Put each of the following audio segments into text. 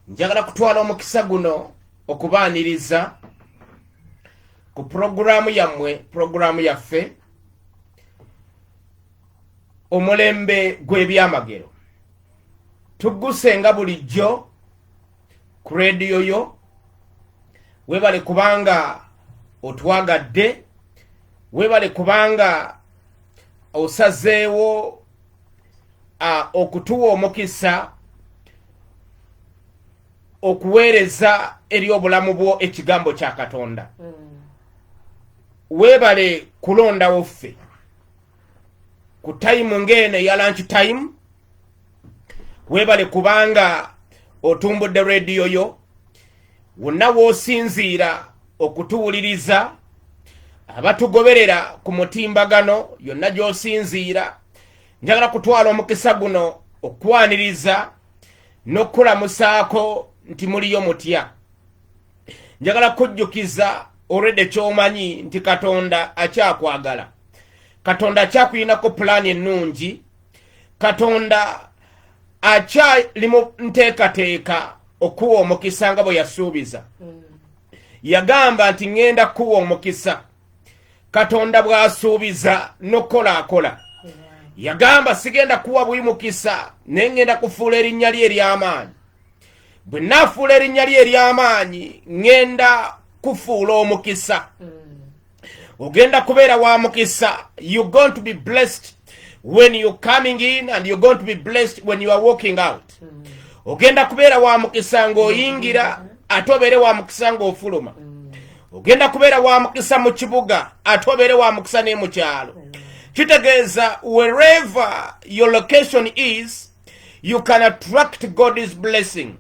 njagala kutwala omukisa guno okubaaniriza ku pulogulaamu yammwe pulogulaamu yaffe omulembe gw'ebyamagero tugguse nga bulijjo ku rediyo yo webale kubanga otwagadde webale kubanga osazeewo okutuwa omukisa okuweereza eri obulamu bwo ekigambo kya katonda mm. weebale kulondawo ffe ku tayimu ng'eno eya lanki tayimu weebale kubanga otumbudde rediyo yo wonna w'osinziira okutuwuliriza abatugoberera ku mutimbagano yonna gy'osinziira njagala kutwala omukisa guno okukwaniriza n'okukulamusaako nti muliyo mutya njagala kujjukiza olwedde kyomanyi nti katonda akyakwagala katonda akyakulinako pulaani ennungi katonda akyali mu nteekateeka okuwa omukisa nga bwe yasuubiza mm. yagamba nti ŋŋenda kuwa omukisa katonda bw'asuubiza n'okukola akola yagamba sigenda kuwa buli mukisa naye ŋŋenda kufuula erinnya lye ery'amaanyi bwe naafuula erinnya lye ery'amaanyi ŋŋenda kufuula omukisa mm. ogenda kubeera wa mukisa you going to be blessed when you coming in and you going to be blessed when you are walking out mm. ogenda kubeera wa mukisa ng'oyingira mm. ate obeere wa mukisa ng'ofuluma mm. ogenda kubeera wa mukisa mu kibuga ate obeere wa mukisa ne mu kyalo kitegeeza wherever your location is you can attract god's blessing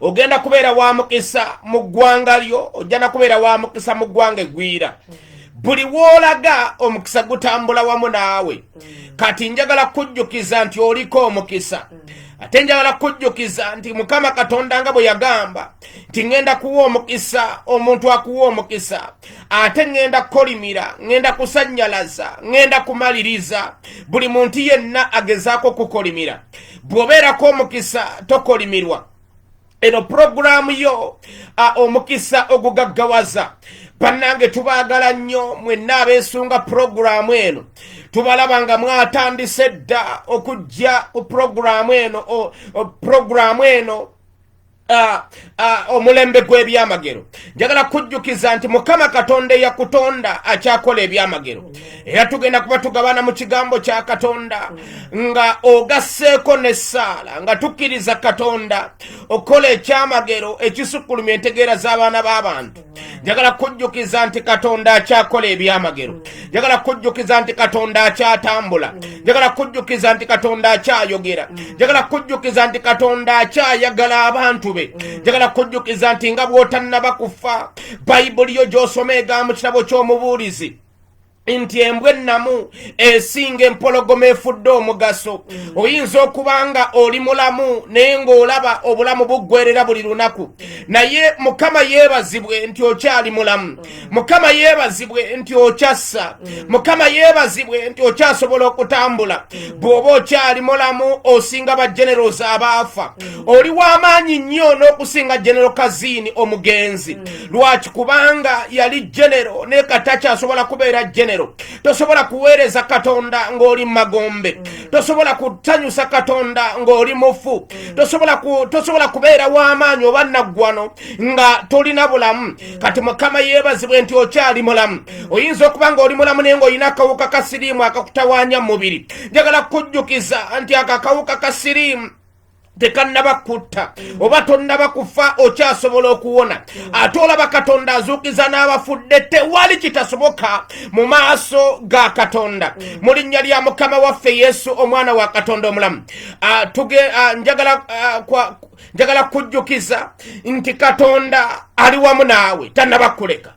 ogenda kubeera wa mukisa mu ggwanga lyo ojjana kubeera wa mukisa mu ggwanga egwira buli woolaga omukisa gutambula wamu naawe kati njagala kujjukiza nti oliko omukisa ate njagala kujjukiza nti mukama katonda nga bwe yagamba nti ŋŋenda kuwa omukisa omuntu akuwa omukisa ate ŋŋenda kukolimira ŋŋenda kusannyalaza ŋŋenda kumaliriza buli muntu yenna agezaako okukolimira bw'obeerako omukisa tokolimirwa eno pulogulaamu yo omukisa ogugaggawaza bannange tubaagala nnyo mwenna abeesunga pulogulaamu eno tubalaba nga mwatandise dda okujja ku pulogulaamu eno pulogulaamu eno Ah, ah, omulembe gw'ebyamagero njagala kujjukiza nti mukama katonda eyakutonda akyakola ebyamagero era tugenda kuba tugabana mu kigambo kya katonda nga ogasseeko n'essaala nga tukkiriza katonda okukola ekyamagero ekisukkulumya entegeera z'abaana b'abantu njagala kujjukiza nti katonda akyakola ebyamagero njagala kujjukiza nti katonda akyatambula njagala kujjukiza nti katonda akyayogera njagala kujjukiza nti katonda akyayagala abantu be njagala kujjukiza nti nga bw'otannaba kufa bayibuli yo gy'osoma egamu kirabo ky'omubuulizi nti embwa ennamu esinga empologoma efudde omugaso mm. oyinza okuba nga oli mulamu naye ng'olaba obulamu buggwerera buli lunaku naye mukama yeebazibwe nti okyali mulamu mm. mukama yeebazibwe nti okyassa mm. mukama yeebazibwe nti okyasobola okutambula bw'oba okyali mulamu osinga bageneros abaafa oli w'amaanyi nnyo n'okusinga genero kaziini omugenzi lwaki kubanga yali genero naye katakyasobola kubeera genero tosobola kuweereza katonda ng'oli mumagombe tosobola kusanyusa katonda ng'oli mufu tosobola kubeera w'amaanyi oba naggwano nga tolina bulamu kati mukama yeebazibwe nti okyali mulamu oyinza okuba ng'oli mulamu naye ng'olina akawuka ka siriimu akakutawaanya mu mubiri njagala kukujjukiza nti ako akawuka ka siriimu tekannaba kutta oba tonnaba kufa okyasobola okuwona ate olaba katonda azuukiza n'abafudde tewali kitasoboka mu maaso ga katonda mu linnya lya mukama waffe yesu omwana wa katonda omulamu ah, ah, njagala ah, njagala kujjukiza nti katonda ali wamu naawe tannaba kuleka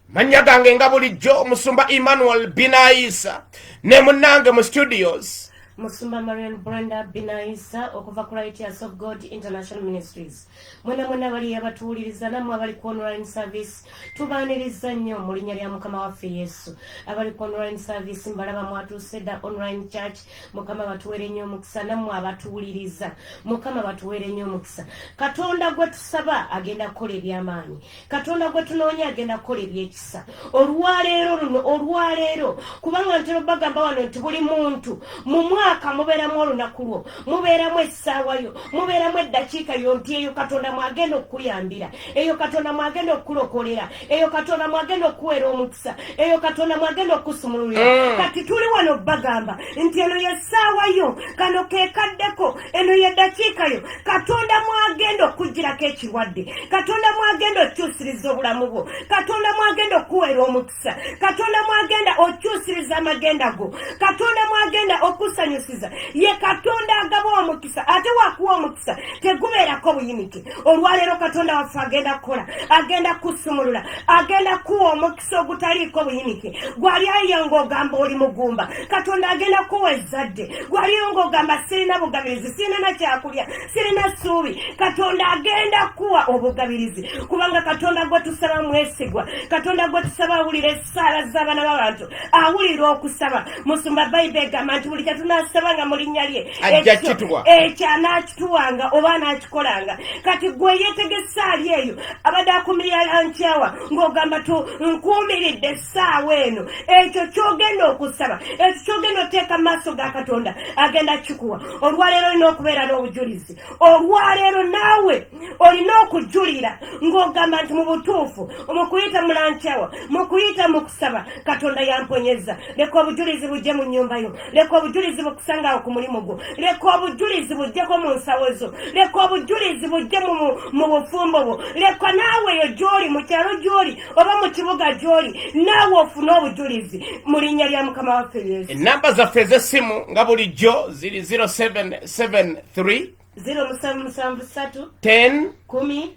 mannya gange nga bulijjo omusumba emmanuel binayisa ne munnange mu studios musumba marian brenda binayisa okuva ku righteous of god international ministries mwena mwena abali abatuwuliriza namwe abali ku online service tubaaniriza nnyo mu linnya lya mukama waffe yesu abali ku online service mbalaba mwatuuse dda online church mukama batuwere nnyo omukisa namwe abatuwuliriza mukama batuwere nnyo omukisa katonda gwe tusaba agenda kukola ebyamaanyi katonda gwe tunoonya agenda kukola ebyekisa olwaleero luno olwaleero kubanga ntera bagamba wano nti buli muntu mu mwaka mubeeramu olunaku lwo mubeeramu essaawa yo mubeeramu eddakiika yo nti eyo katonda mwagenda okukuyambira eyo katonda mwagenda okukulokolera eyo katonda mwagenda okukuweera omukisa eyo katonda mwagenda okukusumululira eh. kati tuli wano bagamba nti eno yessaawa yo kano kekaddeko eno yedakiika yo katonda mwagenda okugirako ekirwadde katonda mwagenda okyusiriza obulamu bwo katonda mwagenda okuwera omukisa katonda mwagenda okyusiriza amagenda go katonda mwagenda okusanyusiza ye katonda agaba omukisa ate wakuwa omukisa tegubeerako buyinike olwaleero katonda waffe agenda kukola agenda kusumulula agenda kuwa omukisa so ogutaliiko buyinike gwali ayiyo ng'ogamba oli mugumba katonda agenda kuwa ezzadde gwaliyo ng'ogamba sirina bugabirizi sirina nakyakulya sirina ssuubi katonda agenda kuwa obugabirizi kubanga katonda gwe tusaba mwesigwa katonda gwe tusaba awulira essaala z'abaana b'abantu awulira okusaba musumba bayibe egamba nti buli kyetunasaba nga mu linnya lye ekyo anaakituwanga oba anaakikolanga kati gwe yetegesa ali eyo abadde akumirira lankyawa ng'ogamba tu nkuumiridde essaawa eno ekyo kyogenda okusaba ekyo kyogenda oteeka mu maaso ga katonda agenda kikuwa olwaleero olina okubeera n'obujulizi olwaleero naawe olina okujulira ng'ogamba nti mu butuufu mu kuyita mulankyawa mu kuyita mu kusaba katonda yamponyeza leka obujulizi bujje mu nnyumba yo leka obujulizi bukusangawo ku mulimu gwo leka obujulizi bujjeko mu nsawo zo leka obujulizi bujje mu bufumbo bwo leka naawe eyo gyoli mu kyalo gyoli oba mu kibuga gyoli naawe ofune obujulizi mu linnya lya mukama waffe yesu enamba zaffe ez'essimu nga bulijjo ziri 0773 0773 10 kumi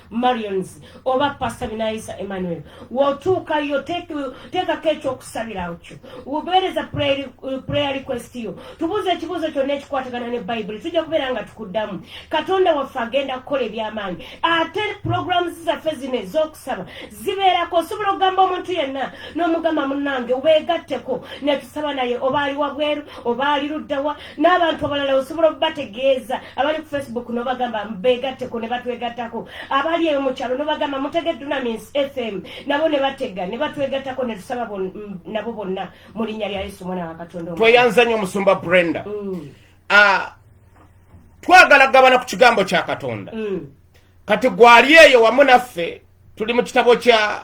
marions oba pastor binayisa emmanuel wotuukayo teekako ekyokusabirawo kyo ubeereza prayer request yo tubuuza ekibuuzo kyonna ekikwatagana ne bayibuli tujja kubeera nga tukuddamu katonda waffe agenda kukola ebyamaanyi ate programs zaffe zino ez'okusaba zibeerako osobola okugamba omuntu yenna n'omugamba munange weegatteko netusaba naye oba ali wabweru oba ali luddawa n'abantu abalala osobola okubategeeza abali ku facebook nobagamba begatteko ne batwegattako abali eyo mu kyalo nobagamba mutege dunamins fm nabo ne batega ne batwegattako ne tusaba nabo bonna mu linnya lya yesu omwana wa katonda tweyanza nnyo omusumba brenda mm. ah, twagala kugabana ku kigambo kya katonda mm. kati gwali eyo wamu naffe tuli mu kitabo kya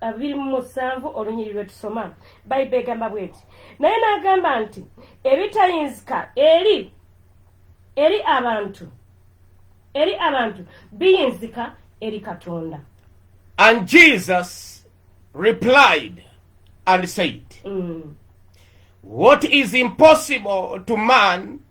abiri mu musanvu olunyiri lwe tusoma bayiba egamba bweti naye n'agamba nti ebitayinzika eri eri abantu eri abantu biyinzika eri katonda and jesus replied and said mm. what is impossible to man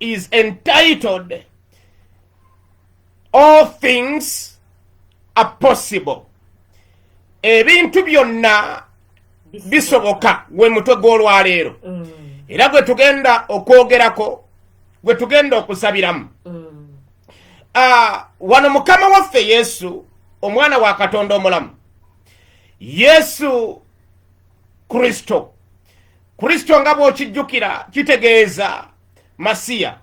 is entitled all things are possible ebintu byonna bisoboka we mutwe gw'olwaleero mm. era gwe tugenda okwogerako gwe tugenda okusabiramu mm. ah, wano mukama waffe yesu omwana wa katonda omulamu yesu kristo kristo nga bw'okijjukira kitegeeza masiya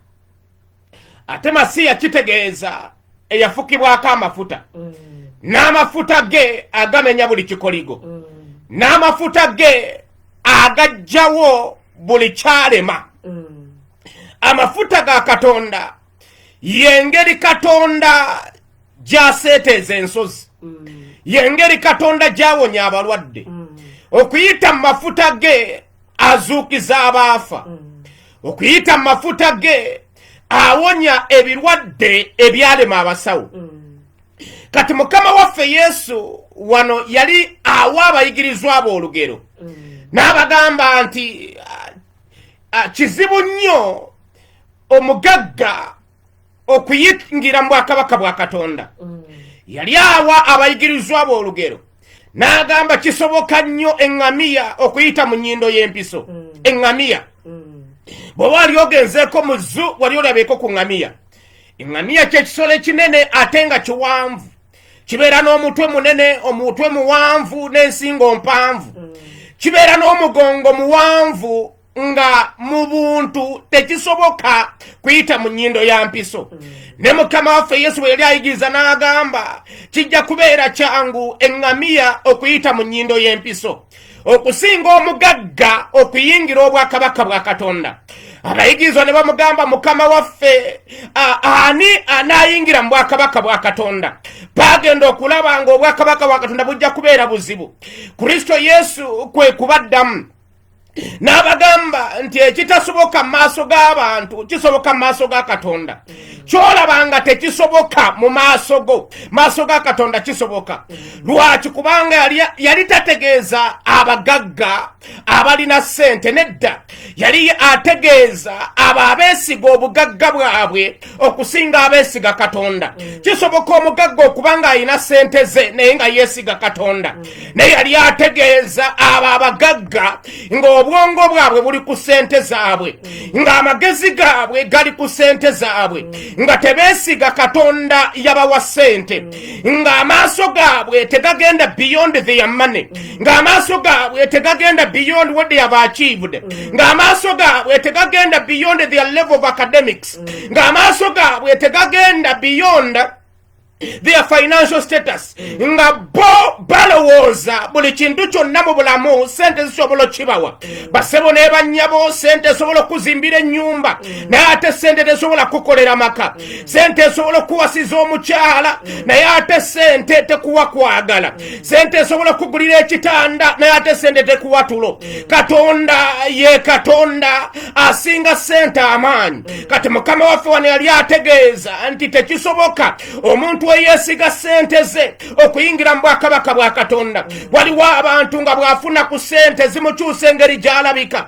ate masiya kitegeeza eyafukibwako amafuta mm. n'amafuta ge agamenya buli kikoligo mm. n'amafuta ge agajjawo buli kyalema mm. amafuta ga katonda yengeri katonda gy'aseeteeza ensozi mm. y'engeri katonda gy'awonya abalwadde mm. okuyita mu mafuta ge azuukiza abaafa mm. okuyita mu mafuta ge awonya ebirwadde ebyalema abasawo kati mukama waffe yesu wano yali awa abayigirizwa abo olugero n'abagamba nti ah, ah, kizibu nnyo omugagga okuyingira mu bwakabaka bwa katonda mm. yali awa abayigirizwa boolugero n'agamba kisoboka nnyo eŋŋamiya okuyita mu nnyindo y'empiso mm. eŋŋamiya mm. bw'oba wali ogenzeeko mu zu wali olabeeko ku ŋŋamiya eŋŋamiya ky'ekisolo ekinene ate nga kiwanvu kibeera n'omutwe munene omutwe muwanvu n'ensingo mpanvu kibeera n'omugongo muwanvu nga mu buntu tekisoboka kuyita mu nyindo ya mpiso mm. ne mukama waffe yesu bwe yali ayigiriza n'agamba kijja kubeera kyangu eŋŋamiya okuyita mu nyindo y'empiso okusinga omugagga okuyingira obwakabaka bwa katonda abayigirizwa ne bamugamba mukama waffe ani anaayingira mu bwakabaka bwa katonda bagenda okulaba nga obwakabaka bwa katonda bujja kubeera buzibu kristo yesu kwe kubaddamu n'abagamba nti ekitasoboka mu maaso g'abantu kisoboka mu maaso ga katonda kyolaba nga tekisoboka mu maaso go maaso ga katonda kisoboka lwaki kubanga yali tategeeza abagagga abalina ssente nedda yali ategeeza abo abeesiga obugagga bwabwe okusinga abeesiga katonda mm. kisoboka omugagga okuba ng'alina ssente ze naye nga yeesiga katonda mm. naye yali ategeeza abo abagagga ng'obwongo bwabwe buli ku ssente zaabwe mm. ng'amagezi gaabwe gali ku ssente zaabwe nga tebeesiga katonda yabawa ssente ng'amaaso gaabwe tegagenda beyond their money ng'amaaso gaabwe tegagenda beyond what they have achieved ng'amaaso gaabwe tegagenda beyond their level of academics ng'amaaso gaabwe tegagenda beyond their financial status nga bo balowooza buli kintu kyonna mu bulamu sente zisobola okibawa basebo nebanyabo sente esobola okuzimbira ennyumba naye ate sente tesobola kukolera maka sente esobola okuwasiza omukyala naye ate sente tekuwa kwagala sente esobola kugulira ekitanda naye ate sente tekuwatulo katonda ye katonda asinga sente amaanyi kati mukama waffe wano yali ategeeza nti tekisoboka omuntu eyesiga sente ze okuyingira mu bwakabaka bwa katonda waliwo abantu nga bwafuna ku sente zimukyusa engeri gyalabika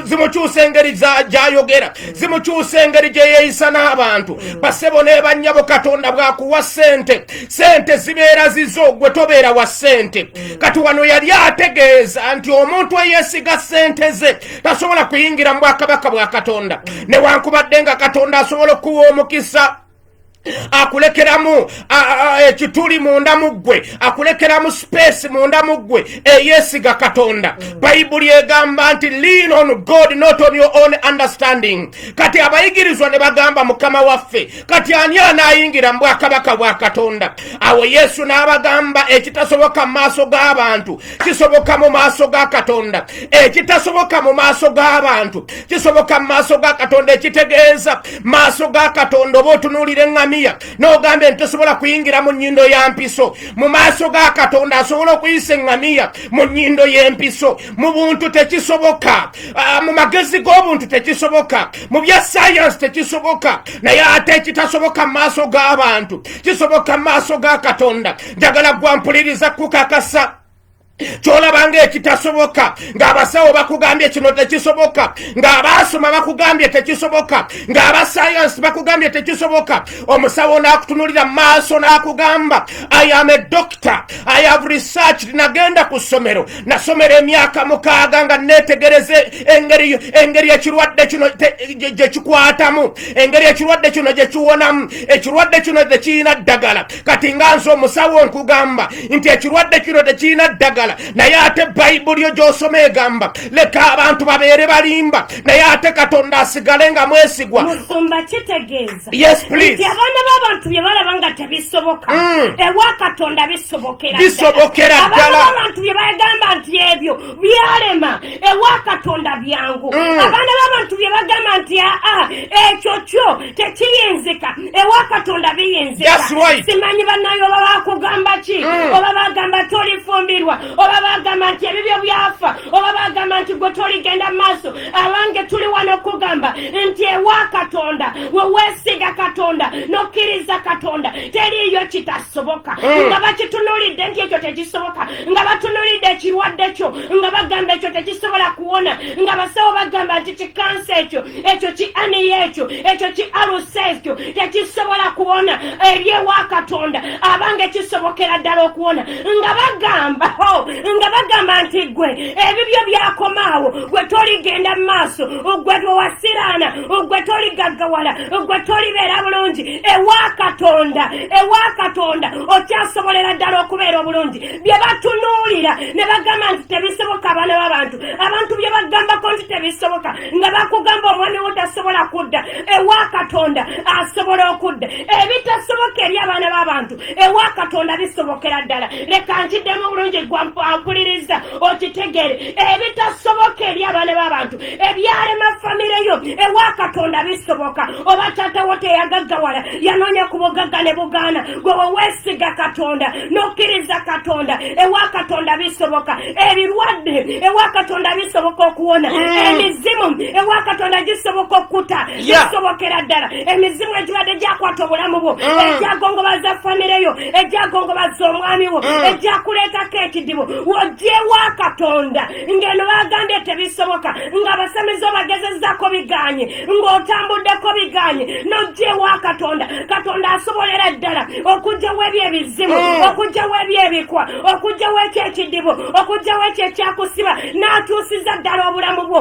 zimukyusa engeri gyayogera zimukyusa engeri gyeyeyisa n'abantu basebo nebanyabo katonda bwakuwa sente sente zibeera zizo gwe tobeera wa sente mm. kati wano yali ategeeza nti omuntu eyesiga sente ze tasobola kuyingira mu bwakabaka bwa katonda mm. newankubadde nga katonda asobola okuwa omukisa akulekeramu ekituli munda mu ggwe akulekeramu sipeesi munda mu ggwe eyesiga katonda mm. bayibuli egamba nti lean on god not on your own understanding kati abayigirizwa ne bagamba mukama waffe kati ani anaayingira mu bwakabaka bwa katonda awo yesu n'abagamba ekitasoboka mu maaso g'abantu kisoboka mu maaso ga katonda ekitasoboka mu maaso g'abantu kisoboka mu maaso ga katonda ekitegeeza maaso ga katonda oba otunuulira eŋŋamiya n'ogamba enti tosobola kuyingira mu nnyindo ya mpiso mu maaso ga katonda asobola okuyisa eŋŋamiya mu nnyindo y'empiso mu buntu tekisoboka ah, mu magezi g'obuntu tekisoboka mu bya sayansi tekisoboka naye ate ekitasoboka mu maaso g'abantu kisoboka mu maaso ga katonda njagala gwampuliriza kukakasa kyolaba nga ekitasoboka ng'abasawo bakugambye kino tekisoboka ng'abaasoma bakugambye tekisoboka ng'abasayansi bakugambye tekisoboka omusawo n'akutunulira mu maaso n'akugamba i am a doctor i have researched nagenda ku ssomero nasomera emyaka mukaaga nga netegereza engeri ekirwadde kino gyekikwatamu engeri ekirwadde kino gyekiwonamu ekirwadde kino tekirina ddagala kati nga nze omusawo nkugamba nti ekirwadde kino tekirina ddagala naye ate bayibuli yo gyosoma egamba leka abantu babeere balimba naye ate katonda asigale nga mwesigwa Yes, please. Nti abaana b'abantu bye balaba nga tebisoboka mm. ewa Katonda bisobokera bisobokera ddala abantu bye bagamba nti ebyo byalema ewa Katonda byangu mm. abaana b'abantu bye bagamba nti aa ah, ah, ekyo kyo tekiyinzika ewa Katonda biyinzika right. simanyi banaye oba bakugamba ki mm. oba bagamba tolifumbirwa oba bagamba nti ebibyo byafa oba bagamba nti gwe toligenda mu maaso abange tuli wano okugamba nti ewa katonda weweesiga katonda nokkiriza katonda teriiyo kitasoboka hmm. nga bakitunulidde nti ekyo tekisoboka nga batunulidde ekirwadde kyo nga bagamba ekyo tekisobola kuwona nga basawo bagamba nti kikansa ekyo ekyo ki aniya ekyo ekyo ki alusa ekyo tekisobola kuwona eri ewa katonda abange kisobokera ddala okuwona nga bagamba oh, nga bagamba nti gwe ebibyo byakomaawo gwe toligenda mu maaso gwe twewasiraana gwe toligaggawala gwe tolibeera bulungi ewa katonda ewa katonda okyasobolera ddala okubeera obulungi bye batunuulira ne bagamba nti tebisoboka abaana b'abantu abantu bye bagambako nti tebisoboka nga bakugamba omwami wo tasobola kudda ewa katonda asobola okudda ebitasoboka eri abaana b'abantu ewa katonda bisobokera ddala leka nkiddemu obulungi gwampuliriza okitegeere ebitasoboka eri abaana b'abantu ebyalema famire yo ewa katonda bisoboka oba taatawo teyagaggawala yanoonya ku bugagga ne bugaana gwe weweesiga katonda n'okkiriza katonda ewa katonda bisoboka ebirwadde ewa katonda bisoboka okuwona mm. emizimu ewa katonda gisoboka okkuta kisobokera ddala emizimu egibadde gyakwata obulamu bwo mm. egyagongobaza famire yo egyagongobaza omwami wo mm. egyakuleetako ekidibo wogyewa katonda ngeno bagambye tebisoboka nga abasamizi obagezezako biganye ng'otambuddeko biganye nogyewa katonda katonda asobolera ddala okugyawo ebyo ebizimu mm. okugyawo ebyo ebikwa okugyawo ekyo ekidibo okugyawo ekyo ekyakusiba n'atuusiza ddala obulamu bwo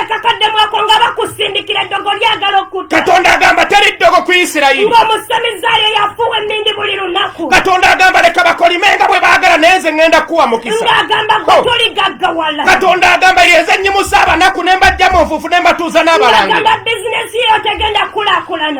akakadde mwako nga bakusindikira eddogo lyagala okutta katonda agamba teri ddogo ku isirayiri ng'omusamizaali eyafuuwa emmindi buli lunaku katonda agamba leka bakolime nga bwe baagala naye nze ŋŋenda kuwa mukisa ng'agamba gwe oh. tuligaggawala katonda agamba yenze nnyimusa abanaku ne mbajja mu nfuufu ne mbatuuza n'abalange bizinesi yo tegenda kulakulana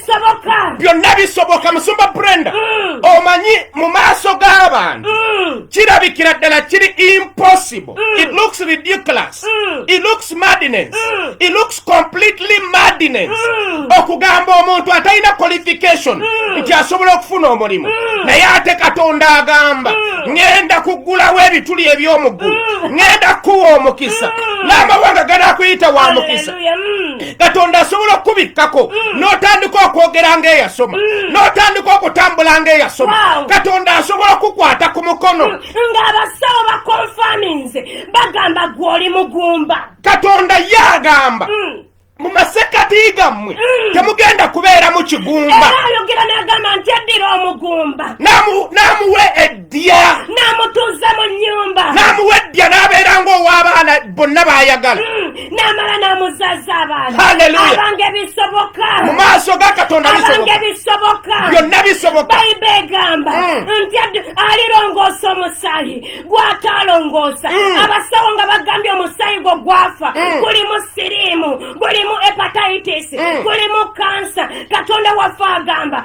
byonna bisoboka musumba brenda mm. omanyi mu maaso g'abantu mm. kirabikira ddala kiri impossible mm. it looks ridiculous it looks madness it looks completely madness okugamba omuntu atalina qualification nti asobola okufuna omulimu naye ate katonda agamba ŋenda kuggulawo ebituli eby'omuggulu ŋenda kukuwa omukisa n'amawanga ganakuyita wa mukisa katonda asobola okukubikkako mm. n'otandika okwogera ng'eyasoma mm. n'otandika okutambula ng'eyasoma katonda asobola okukwata ku mukono mm. ng'abasawo bakonfaminze bagamba gw'oli mugumba katonda ye agamba mu masekati gammwe mm. temugenda kubeera mu kigumba era ayogera n'agamba nti addira omugumba n'amuwa dya n'amutuuza mu nnyumba n'amuwa eddya n'abeera ng'ow'abaana bonna baayagala hmm, n'amala n'amuzaza abaana abange bisoboka mu maaso ga katonda abange bisoboka byonna bisoboka bayiba egamba hmm. nti alirongoosa omusaayi gw'ataalongoosa hmm. abasawo nga bagambye omusaayi gwo gwafa gulimu siriimu gulimu hepatitis gulimu kansa katonda waffe agamba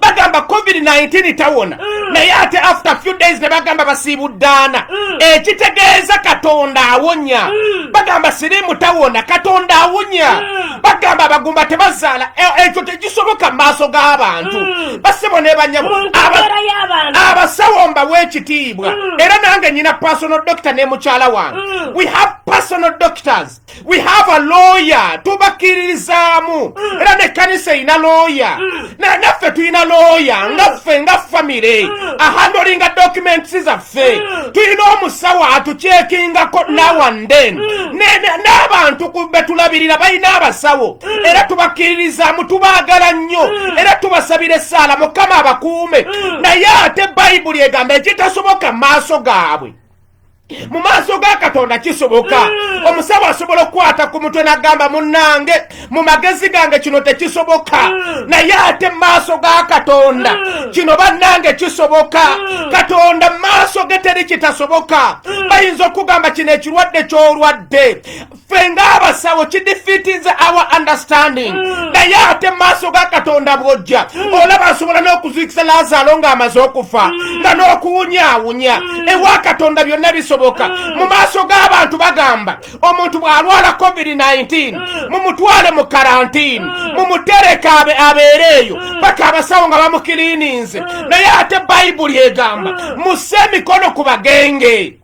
bagamba covid-19 tawona mm. naye ate after few days ne bagamba basiibuddaana mm. ekitegeeza katonda awonya mm. bagamba sirimu tawona katonda awonya bagamba abagumba tebazaala e, ekyo tekisoboka mu maaso g'abantu basebo nebanyabo abasawo mbawa ekitiibwa era nange nyina personal doctor ne mukyala wange we have personal doctors we have a lawyer tubakkiririzaamu mm. era nekkanisa erina lawyer mm. naffe tulina lawyer mm. nga ffe nga famire ahandolinga documents zaffe tulina omusawo atukyekingako now and then n'abantu betulabirira balina abasawo era tubakkiririzaamu tubaagala nnyo era tubasabira essaala mukama abakuume naye ate bayibuli egamba ekitasoboka maaso gaabwe mu maaso ga katonda kisoboka mm. omusawo asobola okukwata ku mutwe nagamba munange mu magezi gange kino tekisoboka mm. naye ate mu maaso ga katonda mm. kino bannange kisoboka katonda mu maaso ge teri kitasoboka bayinza okugamba kino ekirwadde kyolwadde ffe ng'abasawo kidifitinze our understanding mm. naye ate maaso ga katonda bwojja mm. olaba asobola n'okuzuikisa lazaalo ng'amaze okufa mm. nga n'okuwunyaawunya ewa katonda byonna bisoboka mu maaso g'abantu bagamba omuntu bw'alwala covid-19 mumutwale mu karantini mumutereke abeere eyo paka abasawo nga bamukiliininze naye ate bayibuli egamba musse emikono ku bagenge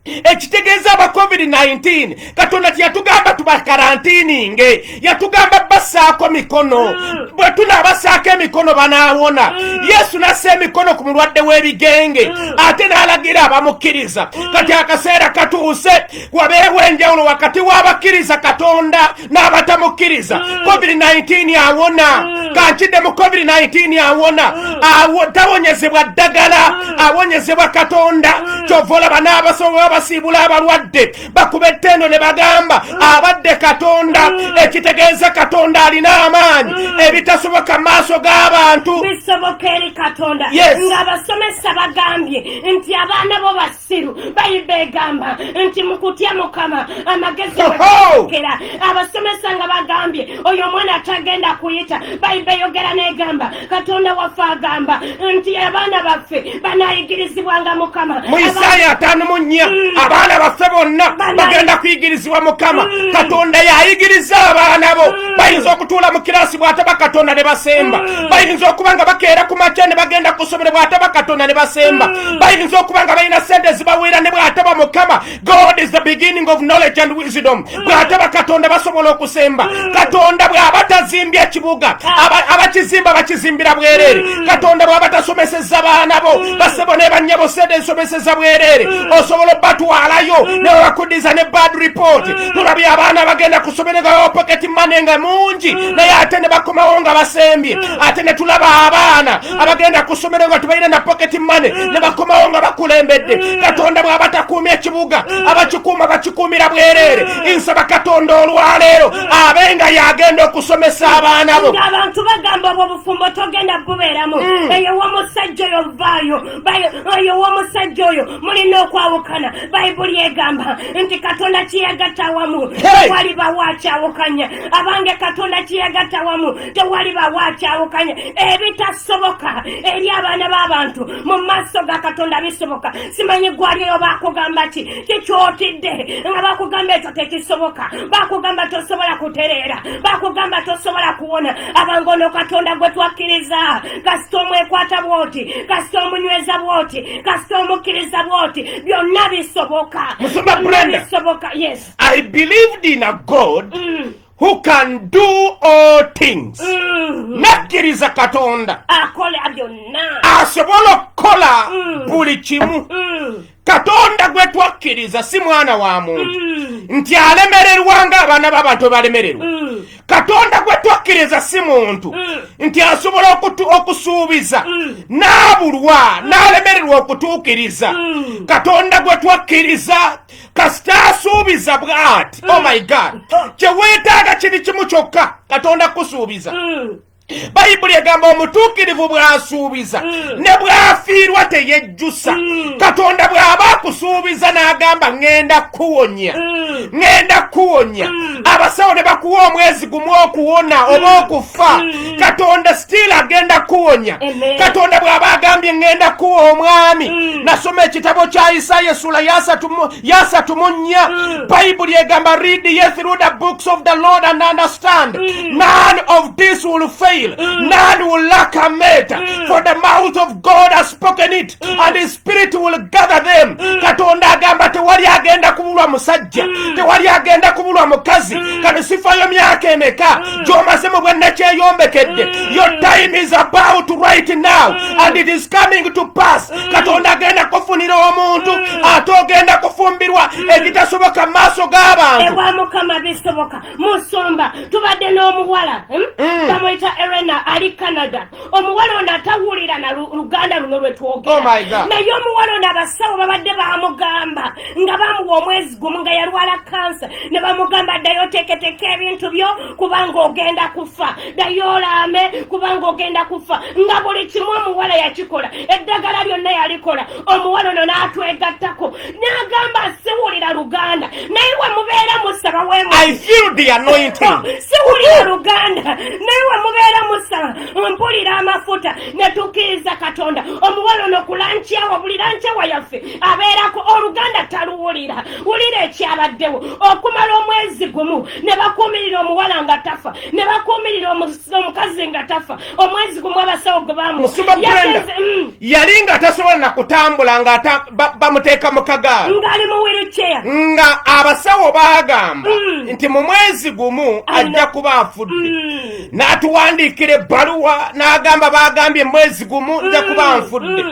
ekitegeeza aba covid-19 katonda kyeyatugamba tubakarantininge yatugamba basaako mikono mm. bwe tunaabasaako emikono banaawona mm. yesu nassa emikono ku mulwadde w'ebigenge mm. ate n'alagira abamukkiriza kati akaseera katuuse wabeewo enjawulo wakati w'abakkiriza katonda n'abatamukkiriza mm. covid-19 awona mm. kankidde mu covid-19 awona mm. tawonyezebwa ddagala awonyezebwa katonda kyova olaba n'abasobola basiibula abalwadde bakuba ettendo ne bagamba abadde katonda ekitegeeza katonda alina amaanyi ebitasoboka mu maaso g'abantu bisoboka eri katonda ng'abasomesa bagambye nti abaana bo siru bayibba egamba nti mukutya mukama amagezi wekera abasomesa nga bagambye oyo omwana atagenda kuyita bayibba eyogera negamba katonda waffe agamba nti abaana baffe banayigirizibwanga mukama mu isaaya ataano mu nnya mm. abaana baffe bonna bagenda kuyigirizibwa mukama mm. katonda yayigiriza abaana bo bayinza okutuula mu kiraasi bw'ataba katonda ne basemba mm. bayinza okuba nga bakeera ku makya ne bagenda ku ssomero bw'ataba katonda ne basemba mm. bayinza okuba nga balina sente zibaweera ne bw'ataba mukama god is the beginning of knowledge and wisdom mm. bw'ataba katonda basobola okusemba katonda bw'aba tazimbye ekibuga ah. abakizimba bakizimbira bwereere katonda bw'aba tasomeseza baana bo basebo ne bannyabo sente zisomeseza bwereere osobola obatwalayo ne bakudiza ne bad report tulabye abaana bagenda ku ssomero nga bawapaketi mane nga mungi naye ate ne bakomawo nga basembye ate ne tulaba abaana abagenda ku ssomero nga tubalina na paketi mane ne bakomawo nga bakulembedde katonda bw'aba takuumya ekibuga abakikuuma bakikuumira bwereere nsaba katonda olwaleero abe nga yagenda okusomesa abaana bo abantu bagamba obwo obufumbo togenda bubeeramu mm. eyo womusajja oyo vaayo oyo w'omusajja oyo mulina okwawukana bayibuli egamba nti katonda kyeyagatta awamu tewali bawo akyawukanya abange katonda kyeyagatta awamu tewali bawo akyawukanya ebitasoboka eri abaana b'abantu mu maaso ga katonda bisoboka simanyi gwalioyo bakugamba ki kikyotidde nga bakugamba ekyo tekisoboka bakugamba tosobola kutereera bakugamba tosobola kuwona abange ono katonda gwe twakkiriza kasita omwekwata bwoti kasita omunyweza bwoti kasita omukkiriza bwoti byonna bisoboka musumba brenda bisoboka yes i believed in a god mm. who can do all things mm-hmm. nakkiriza katonda asobola okukola mm. buli kimu mm. katonda gwe twakkiriza si mwana wa muntu mm. nti alemererwa nga abaana b'abantu bebalemererwa mm. katonda gwe twakkiriza si muntu mm. nti asobola okusuubiza n'abulwa n'alemererwa okutuukiriza katonda gwe twakkiriza kasita asuubiza bw'ati oh my god kye weetaaga kiri kimu kyokka katonda kukusuubiza bayibuli egamba omutuukirivu bw'asuubiza hmm. ne bw'afiirwa teyejjusa hmm. katonda bw'aba akusuubiza n'agamba ŋŋenda kukuwonya hmm. ŋŋenda kukuwonya abasawo ne bakuwa omwezi gumu okuwona oba okufa katonda sitiili agenda kukuwonya katonda bw'aba agambye ŋŋenda kukuwa omwami nasoma ekitabo kya isaaya esula yasatu yasatu mu nnya hmm. bayibuli egamba read ye through the books of the lord and understand hmm. none of this will fail hmm. none will lack a mate for the mouth of god has spoken it and his spirit will gather them katonda agamba tewali agenda kubulwa musajja tewali agenda kubulwa mukazi kati sifayo myaka emeka gyomaze mu bwennakyeyombekede your time is about right now and it is coming to pass mm. katonda agenda kufunira omuntu mm. ate ogenda kufumbirwa mm. ebitasoboka mu maaso g'abantu ewa mukama bisoboka musumba tubadde n'omuwala hmm? bamuyita erena ali canada omuwala ono atawulira na luganda luno lwe twogera oh naye omuwala ono abasawo babadde bamugamba nga bamuwa omwezi gumu nga yalwala kansa ne bamugamba ddayo oteeketeka ebintu byo kubanga ogenda kufa ddayo olambe kubanga ogenda kufa nga buli kimu omuwala yakikola eddagala lyonna yalikola omuwala ono n'atwegattako n'agamba siwulira luganda naye we mubeera musaba wesiwulira luganda naye we mubeera musaba mpulira amafuta netukiiza katonda omuwala ono kulankyawa buli lankyawa yaffe abeerako oluganda taluwulira wulira ekyabaddewo okumala omwezi gumu ne bakuumirira omuwala nga tafa ne bakuumirira omukazi nga tafa omwezi gumu abasawo gwe mm. yali nga tasobola na kutambula nga bamuteeka mu kagaala ngaali mu wiruceya nga abasawo baagamba mm. nti mu mwezi gumu ajja kuba afudde mm. n'atuwandiikira ebbaluwa n'agamba baagambye mwezi gumu nja kuba nfudde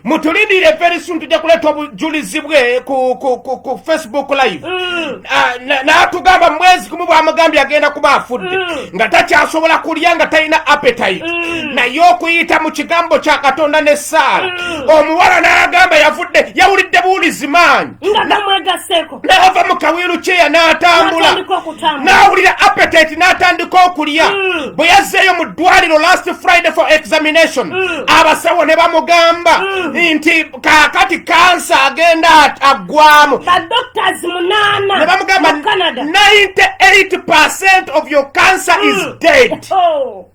mutulindire very soon tujja kuleeta obujulizi bwe ku facebook live mm. ah, n'atugamba mwezi kumu bwamugambye agenda kuba afudde mm. nga takyasobola kulya nga talina appetite mm. naye okuyita mu kigambo kya katonda ne saala omuwala n'agamba yavudde yawulidde buwulizi maanyi n'ava mu kawiiru kyeya n'atambula n'awulira appetite n'atandika okulya mm. bwe yazzeeyo mu ddwaliro last friday for examination mm. abasawo ne bamugamba mm. nti kaakati kansa agenda aggwamu ne bamugamba 98 percent of your cancer is dead oh.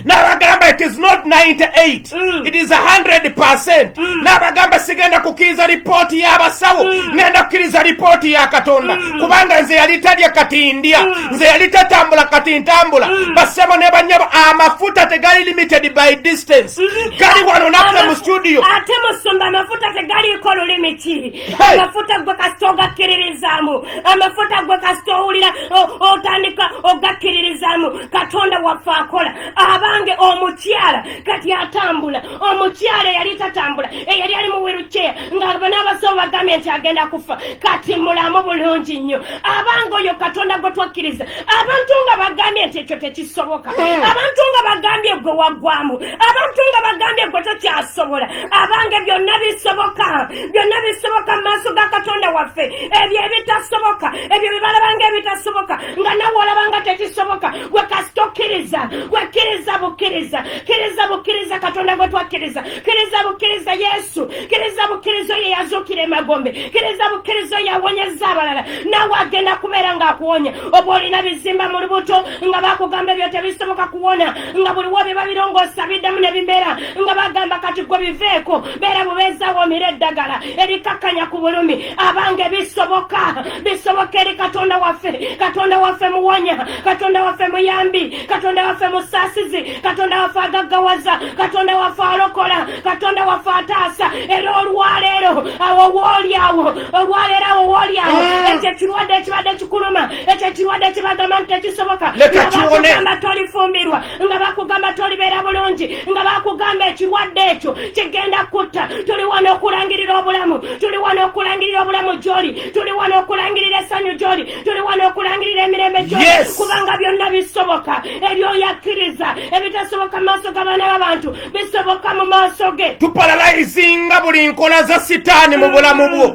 nabagamba it is not 98 mm. it is 100 percent mm. nabagamba sigenda kukkiriza lipooti y'abasawo mm. ngenda kukkiriza lipooti ya katonda mm. kubanga nze yali talya kati ndya mm. nze yali tatambula kati ntambula mm. basebo ne banyabo amafuta tegali limited by distance mm. gali wano naffe mu studio ate musumba amafuta tegaliiko lulimiti amafuta gwe kasita ogakkiririzaamu amafuta gwe kasita owulira otandika ogakkiririzaamu katonda waffe akola abange omukyala kati atambula omukyala eyali tatambula eyali ali mu wiruceya nga banaabasawo bagambye nti agenda kufa kati mulamu bulungi nnyo abange oyo katonda gwe twakkiriza abantu nga bagambye nti ekyo tekisoboka hmm. abantu nga bagambye gwe waggwamu abantu nga bagambye gwe tokyasobola abange byonna bisoboka byonna bisoboka mu maaso ga katonda waffe ebyo ebitasoboka ebyo byebalabanga ebitasoboka nga nawe olabanga tekisoboka gwe kasita okkiriza gwe kkiriza bukkiriza kkiriza bukkiriza katonda gwe twakkiriza kkiriza bukkiriza yesu kkiriza bukkiriza oyo yazuukira emagombe kkiriza bukkiriza oyo awonyezza abalala nawe agenda kubeera ng'akuwonya oba olina bizimba mu lubuto nga bakugamba ebyo tebisoboka kuwona nga buliwo bye babirongoosa biddamu ne bimera nga bagamba kati gwe biveeko beera bubeezaawo omira eddagala erikakkanya ku bulumi abange bisoboka bisoboka eri katonda waffe katonda waffe muwonya katonda waffe muyambi katonda waffe musasizi katonda waffe agaggawaza katonda waffe alokola katonda waffe ataasa era olwaleero awo wooli awo olwaleero awo wooli awo ah. ekyo ekirwadde ekibadde kikuluma ekyo ekirwadde kibagamba nti tekisoboka abatugamba tolifumbirwa nga bakugamba tolibeera bulungi nga bakugamba ekirwadde ekyo kigenda kutta tuli wano okulangirira obulamu tuli wano okulangirira obulamu gyoli tuli wano okulangirira essanyu gyoli tuli wano okulangirira emirembe gyoli kubanga byonna bisoboka ebyoyakkiriza ebitasoboka mu maaso g'abaana b'abantu bisoboka mu maaso ge tuparalayizinga buli nkola za sitaani mu bulamu bwo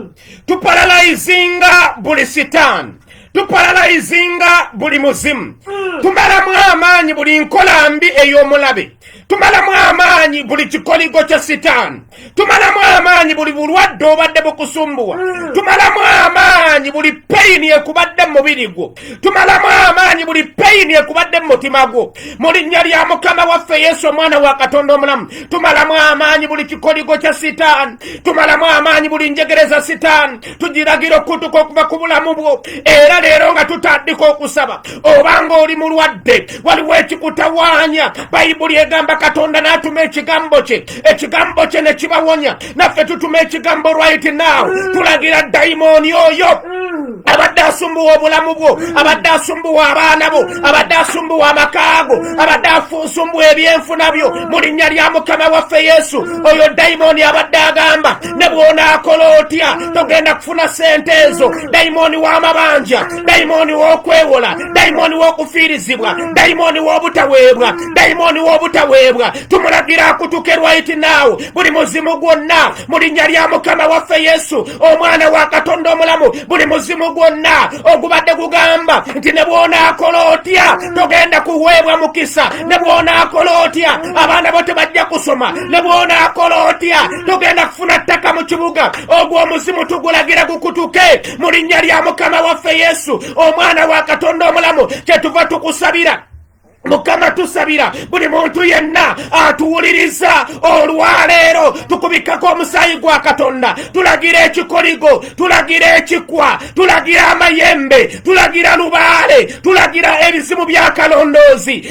tuparalayizinga buli sitaani tuparalayizinga buli muzimu hmm. tumalamu amaanyi buli nkola mbi ey'omulabe tumalamu amaanyi buli kikoligo kya sitaani tumalamu amaanyi buli bulwadde obadde bukusumbuwa hmm. tumalamu amaanyi buli peyini ekubadde mu mubiri gwo tumalamu amaanyi buli peyini ekubadde mu mutima gwo mu linnya lya mukama waffe yesu omwana wa katonda omulamu tumalamu amaanyi buli kikoligo kya sitaani tumalamu amaanyi buli njegereza sitaani tugiragira okutuka okuva ku bulamu bwo era leero nga tutandika okusaba oba nga oli mulwadde waliwo ekikutawaanya bayibuli egamba katonda n'atuma ekigambo kye ekigambo kye ne kibawonya naffe tutuma ekigambo right now tulagira dayimooni oyo abadde asumbuwa obulamu bwo abadde asumbuwa abaana bo abadde asumbuwa amakaago abadde afunsumbuwa ebyenfuna byo mu linnya lya mukama waffe yesu oyo dayimooni abadde agamba ne bw'onaakola otya togenda kufuna sente ezo dayimooni w'amabanja dayimooni w'okwewola dayimooni w'okufiirizibwa dayimooni w'obutaweebwa dayimooni w'obutaweebwa tumulagira akutuke lwaiti naawo buli muzimu gwonna mu linnya lya mukama waffe yesu omwana wa katonda omulamu buli muzimu gwonna ogubadde gugamba nti ne bw'onaakola otya togenda kuweebwa mukisa ne bw'onaakola otya abaana bo tebajja kusoma ne bwonaakola otya tugenda kufuna ttaka mu kibuga ogwo omuzimu tugulagira gukutuke mu linnya lya mukama waffe yesu omwana wa katonda omulamu kyetuva tukusabira mukama tusabira buli muntu yenna atuwuliriza olwaleero tukubikako omusaayi gwa katonda tulagira ekikoligo tulagira ekikwa tulagira amayembe tulagira lubaale tulagira ebizimu byakalondoozi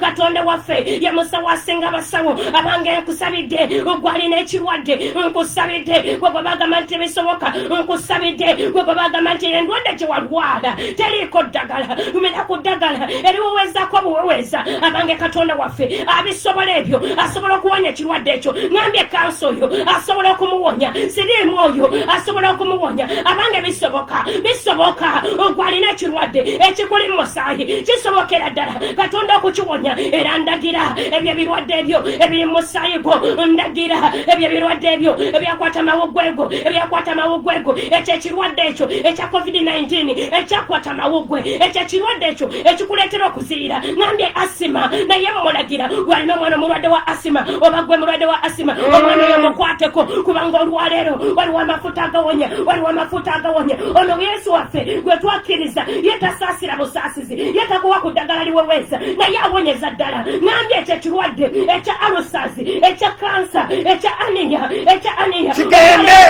katonda waffe ye musawo asinga abasawo abange nkusabidde ogwalina ekirwadde nkusabidde gwegwe bagamba nti bisoboka nkusabidde gwegwe bagamba nti endwadde gyewalwala teriiko ddagala lumira ku ddagala eriwewezako obuweweza abange katonda waffe abisobola ebyo asobola okuwonya ekirwadde ekyo ngambye kanso oyo asobola okumuwonya siriimu oyo asobola okumuwonya abange bisoboka bisoboka ogwalina ekirwadde ekikuli musa ayi kisobokera ddala katonda okukiwonya era ndagira ebyo ebirwadde ebyo ebiri mu musaayi gwo ndagira ebyo ebirwadde ebyo ebyakwata mawuggwego ebyakwata mawuggwego ekyo ekirwadde ekyo ekya covid-19 ekyakwata mawuggwe ekyo ekirwadde ekyo ekikuleetera okuziyira nambye asima naye mumulagira gwalina omwana omulwadde wa asima oba gwe mulwadde wa asima omwana oyo mukwateko kubanga olwaleero waliwo amafu amafuta agawonya waliwo amafuta agawonya ono yesu waffe gwe twakkiriza ye tasaasira busaasizi ye takuwa ku ddagala liweweeza naye awonyeza ddala nambye ekyo ekirwadde ekya alusazi ekya kansa ekya aniya ekya aniya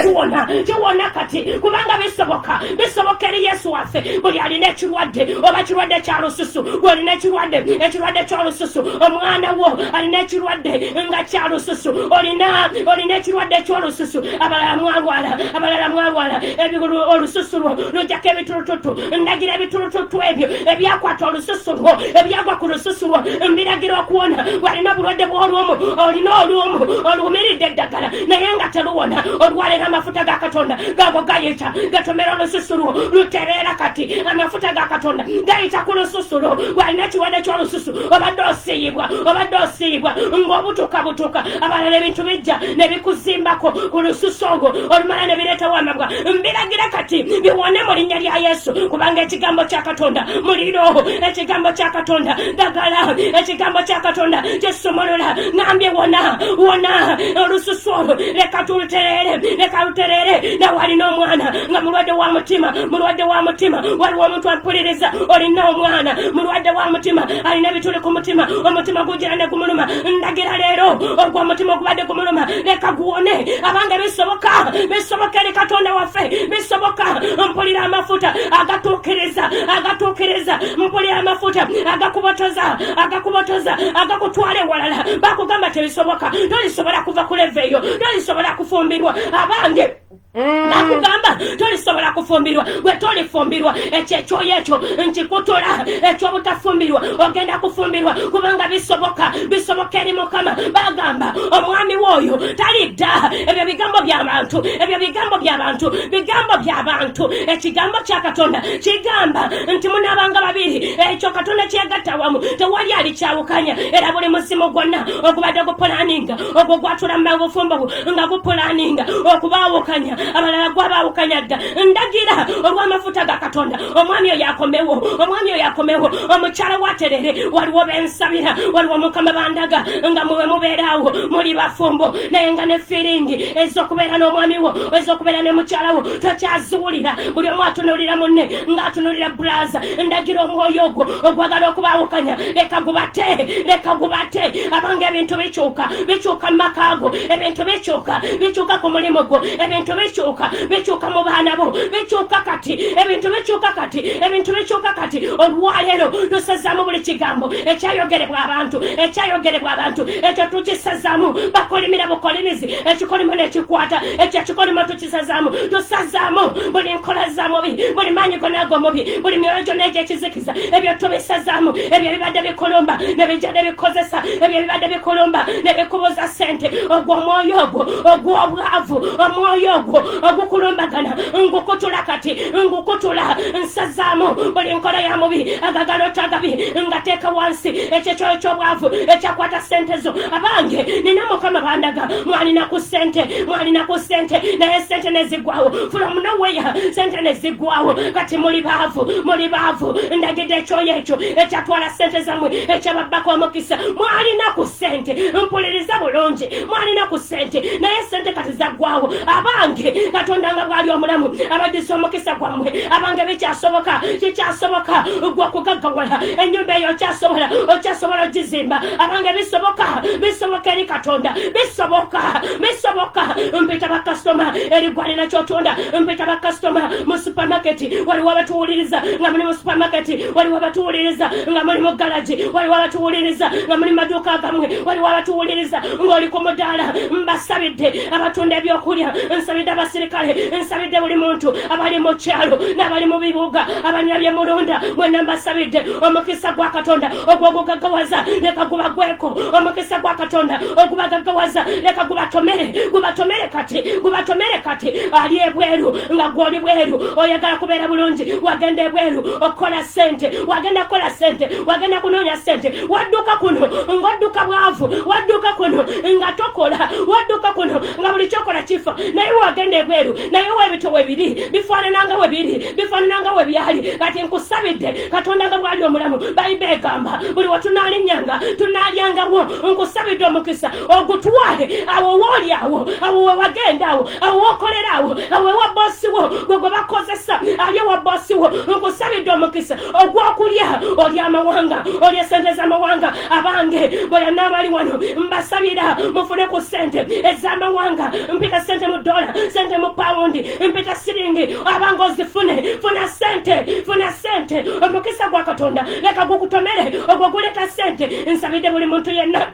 kiwona kiwona kati kubanga bisoboka bisoboka eri yesu waffe buli alina ekirwadde oba kirwadde kya lususu olina ekirwadde ekirwadde kyolususu omwana wo alina ekirwadde nga kyalususu olina olina ekirwadde kyolususu abalala mwalwala abalala mwalwala ebigulu olususu lwo lujjako ebitulututu ndagira ebitulututu ebyo ebyakwata olususu lwo ebyagwa ku lususu lwo mbiragira okuwona walina obulwadde bw'olumu olina olumu oluwumiridde eddagala naye nga teluwona olwaleero amafuta ga katonda gago gayita gatomera olususu lwo lutereera kati amafuta ga katonda gayita ku lususu lwo walina ekiwade ky'olususu obadde osiyibwa obadde osiyibwa ng'obutuka butuka abalala ebintu bijja ne bikuzimbako ku lususu olwo olumala ne bireetawo amabwa mbiragira kati biwone mu linnya lya yesu kubanga ekigambo kya katonda muliro ekigambo kya katonda dagala ekigambo kya katonda kisumulula nambye wona wona olususu olwo leka tulutereere leka lutereere nawe alina omwana nga mulwadde wa mutima mulwadde wa mutima waliwo omuntu ampuliriza olina omwana mulwadde wa mutima alina ebituli ku mutima omutima gugira ne gumuluma ndagira leero ogwo omutima ogubadde gumuluma leka guwone abange bisoboka bisoboka eri katonda waffe bisoboka mpulira amafuta agatuukiriza agatuukiriza mpulira amafuta agakubotoza agakubotoza agakutwala ewalala bakugamba tebisoboka tolisobola kuva ku leve eyo tolisobola kufumbirwa abange Mm. nakugamba tolisobola kufumbirwa gwe tolifumbirwa ekyo ekyoyo ekyo nkikutula ekyobutafumbirwa ogenda kufumbirwa kubanga bisoboka bisoboka eri mukama bagamba omwami wooyo talidda ebyo bigambo byabantu ebyo bigambo byabantu bigambo byabantu ekigambo kya katonda kigamba nti munabanga babiri ekyo katonda kyegatta wamu tewali alikyawukanya era buli musimu gwonna ogubadde gupulaninga ogwo gwatula mu bufumbo nga gupulaninga okubaawukanya abalala gwabaawukanya dda ndagira olw'amafuta ga katonda omwami oyo akomewo omwami oyo akomewo omukyala waterere waliwo bensabira waliwo mukama bandaga nga muwe mubeeraawo muli bafumbo naye nga ne firingi ez'okubeera n'omwami wo ez'okubeera ne mukyala wo tokyaziwulira buli omu atunulira munne ng'atunulira bulaza ndagira omwoyo ogwo ogwagala okubawukanya leka gubate leka gubate abanga ebintu bikyuka bikyuka mu maka go ebintu bikyuka bikyuka ku mulimu gwo ebintu bikyuka bikyuka mu baana bo bikyuka kati ebintu bikyuka kati ebintu bikyuka kati olwaleero tusazamu buli kigambo ekyayogerebwa abantu ekyayogerebwa abantu ekyo tukisazamu bakolimira bukolimizi ekikolimo nekikwata ekyo ekikolimo sazaamu tusazaamu buli nkola za mubi buli maanyi gonaago mubi buli myoyo gyonna egyekizikiza ebyo tubisazaamu ebyo ebibadde bikulumba nebijja nebikozesa ebyo ebibadde bikulumba nebikubuza sente ogwo omwoyo ogwo ogw'obwavu omwoyo ogwo ogukulumbagana ngukutula kati ngukutula nsazaamu buli nkola ya mubi agagala otagabi ngateeka wansi ekyekyoyo ky'obwavu ekyakwata sente zo abange nina mukama bandaga mwalina ku sente mwalina ku sente naye sente nezigwawo from noweya sente nezigwawo kati muli baavu muli baavu ndagidde ekyoyo ekyo ekyatwala sente zamwe ekyababbako omukisa mwalina ku sente mpuliriza bulungi mwalina ku sente naye sente kati zagwawo abange katonda nga bwali omulamu abadisa omukisa gwamwe abange bikyasoboka kikyasoboka gwe okugaggawala enyumba eyo okyasobola okyasobola ogizimba abange bisoboka bisoboka eri katonda bisoboka bisoboka mpita bakasitoma erigwanira kyotunda mpita bakasitoma mu supamaketi waliwo abatuwuliriza nga muli mu supamaketi waliwo abatuwuliriza nga muli mu galagi waliwo abatuwuliriza nga muli maduuka gamwe waliwo abatuwuliriza ng'oli ku mudaala mbasabidde abatunda ebyokulya nsabidde abasirikale nsabidde buli muntu abali mu kyalo n'abali mu bibuga abanyabye mulonda mwena mbasabidde omukisa gwa katonda ogwo ogugagawaza leka gubagweko omukisa gwa katonda ogubagagawaza leka gubatomere gubatomere kati gubatomere kati ali ebweru nga gwoli bweru oyagala kubeera bulungi wagenda ebweru okukola sente wagenda kukola sente wagenda kunoonya sente wadduka kuno ngaodduka bwavu wadduka kuno nga tokola wadduka kuno nga buli kyokola kifa naye wagenda ebweru naye webito webiri bifaanana nga webiri bifaanana nga webyali kati nkusabidde katonda nga bwali omulamu bayiba egamba buli wetunalinnyanga tunalyangawo nkusabidde omukisa ogutwale awo wooli awo awo wewagenda awo awo wokolera awo awo ewa bosi wo gwe gwe bakozesa ali ewa bosi wo nkusabidde omukisa ogwokulya oli amawanga oli esente z'amawanga abange bweyana abali wano mbasabira mufune ku sente ez'amawanga mpita sente mu dola sente mu pawundi empeta siringi abanga ozifune funa sente funa sente omukisa gwa katonda leka gukutomere ogwo guleta sente nsabidde buli muntu yenna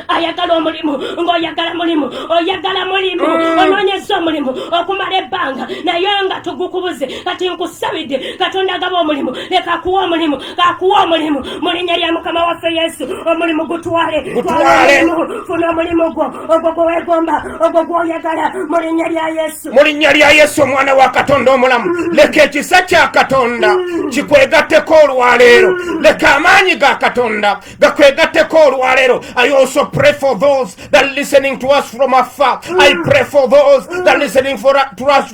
ayagala omulimu ngaoyagala mulimu oyagala mulimu mm. ononyeza omulimu okumala ebbanga naye nga tugukubuze kati nkusabidde katonda agaba omulimu leka akuwa omulimu kakuwa omulimu mulinya lya mukama waffe yesu omulimu gutwale funa omulimu gwo ogwo gwe weegomba ogwo gw'oyagala mu linnya lya yesu mu linnya lya yesu omwana wa katonda omulamu mm. leka ekisa kya katonda mm. kikwegatteko olwaleero mm. leka amaanyi ga katonda gakwegatteko olwaleero i also pray for those that listening to us from afar i pray for those that listening for, to us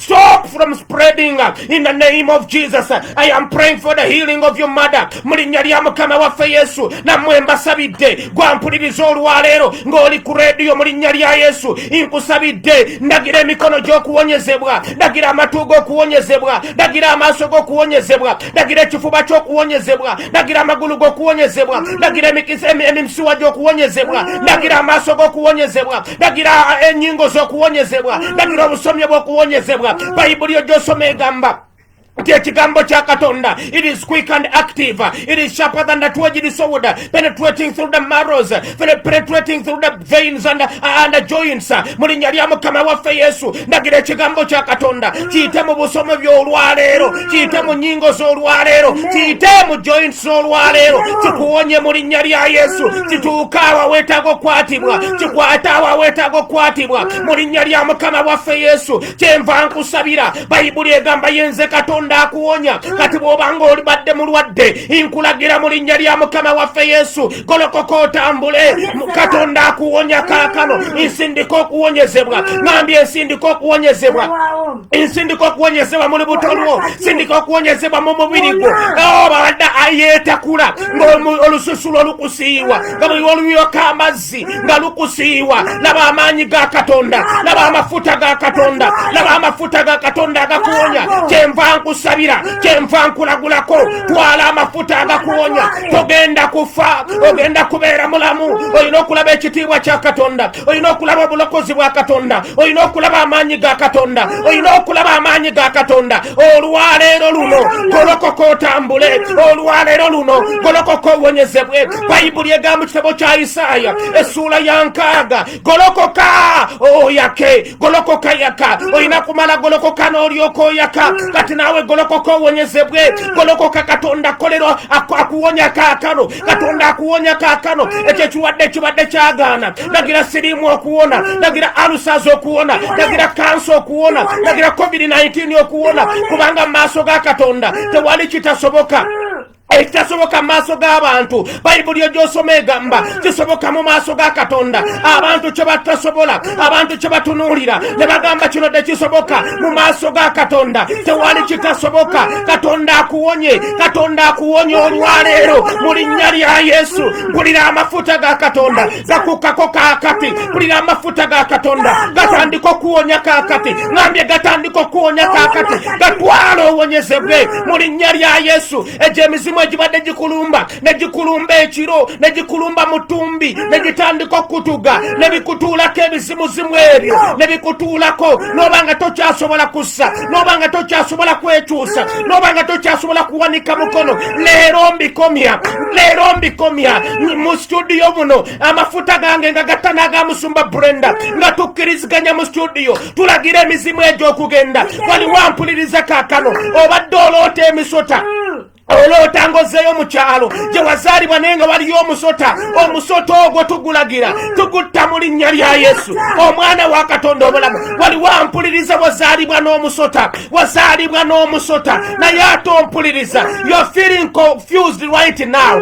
Stop from spreading uh, in the name of Jesus. I am praying for the healing of your mother. Mu linnya lya Mukama waffe Yesu, nammwe mbasabidde gwampuliriza olwaleero ng'oli ku rediyo mu linnya lya Yesu. Nkusabidde ndagira emikono gy'okuwonyezebwa, ndagira amatu g'okuwonyezebwa, ndagira amaaso g'okuwonyezebwa, ndagira ekifuba ky'okuwonyezebwa, ndagira amagulu g'okuwonyezebwa, ndagira emisuwa gy'okuwonyezebwa, ndagira amaaso g'okuwonyezebwa, ndagira enyingo z'okuwonyezebwa ndagira obusomyo bw'okuwonyezebwa bayibuli yo gy'osoma egamba nti ekigambo kya katonda it is quick and active it is sharper than the two-edged sword penetrating through the marrows penetrating through the veins and, and the joints mu linnya lya mukama waffe yesu ndagira ekigambo kya katonda kiyite mu busomo by'olwaleero kiyite mu nyingo z'olwaleero kiyite mu jointi z'olwaleero kikuwonye mu linnya lya yesu kituuka awa weetaaga okukwatibwa kikwate awa weetaaga okukwatibwa mu linnya lya mukama waffe yesu kyenva nkusabira bayibuli egamba yenze katonda akuwonya kati bw'obanga olibadde mulwadde nkulagira mu linnya lya mukama waffe yesu golokoka otambule katonda akuwonya kaakano nsindika okuwonyezebwa nambye nsindika okuwonyezebwa nsindika okuwonyezebwa muli butolwo sindika okuwonyezebwa mu mubiri gwo obadde oh, ayeetakula ngaolususu lwo lukusiiwa nga buli oluyoka amazzi nga lukusiiwa laba amaanyi ga katonda laba amafuta ga katonda laba amafuta ga katonda agakuwonya kyenva nkusabira kyenva nkulagulako twala amafuta agakuwonya togenda kufa ogenda kubeera mulamu olina okulaba ekitiibwa kya katonda olina okulaba obulokozi bwa katonda olina okulaba amaanyi ga katonda olina okulaba amaanyi ga katonda olwaleero luno golokoka otambule olwaleero luno golokoka owonyezebwe bayibuli egamba kitabo kya isaaya essuula ya nkaaga golokoka oyake golokoka yaka olina kumala golokoka n'olyoka oyaka kati naawe golokoka owonyezebwe golokoka katonda akolerwa akuwonya kakano katonda akuwonya kakano ekyo ekiwadde kibadde kyagaana nagira siriimu okuwona nagira alusazi okuwona nagira kansa okuwona nagira covid-19 okuwona kubanga mu maaso ga katonda tewali kitasoboka ekitasoboka mu maaso g'abantu bayibuli egyosoma egamba kisoboka mu maaso ga katonda abantu kye batasobola abantu kye batunuulira ne bagamba kino tekisoboka mu maaso ga katonda tewali kitasoboka katonda akuwonye katonda akuwonye olwaleero mu linnya lya yesu mpulira amafuta ga katonda zakukako kakati kulira amafuta ga katonda gatandika okuwonya kakati ngambye gatandika okuwonya kakati gatwala owonyezebwe mu linnya lya yesu egyo emizimu egibadde gikulumba ne gikulumba ekiro ne gikulumba mutumbi ne gitandika okutuga ne bikutuulako ebizimuzimu ebyo ne bikutuulako n'oba nga tokyasobola kussa noba nga tokyasobola kwekyusa noba nga tokyasobola kuwanika mukono leero mbikomya leero mbikomya mu situdiyo muno amafuta gange nga gatta n'agamusumba brenda nga tukkiriziganya mu situdiyo tulagira emizimu egy'okugenda waliwo ampuliriza kakano obadde oloota emisota oloota ng'ozzeeyo mu kyalo gye wazaalibwa naye nga waliyo omusota omusota ogwo tugulagira tugutta mu linnya lya yesu omwana wa katonda obulamu wali wampuliriza wazaalibwa n'omusota wazaalibwa n'omusota naye ate ompuliriza you're feeling confused right now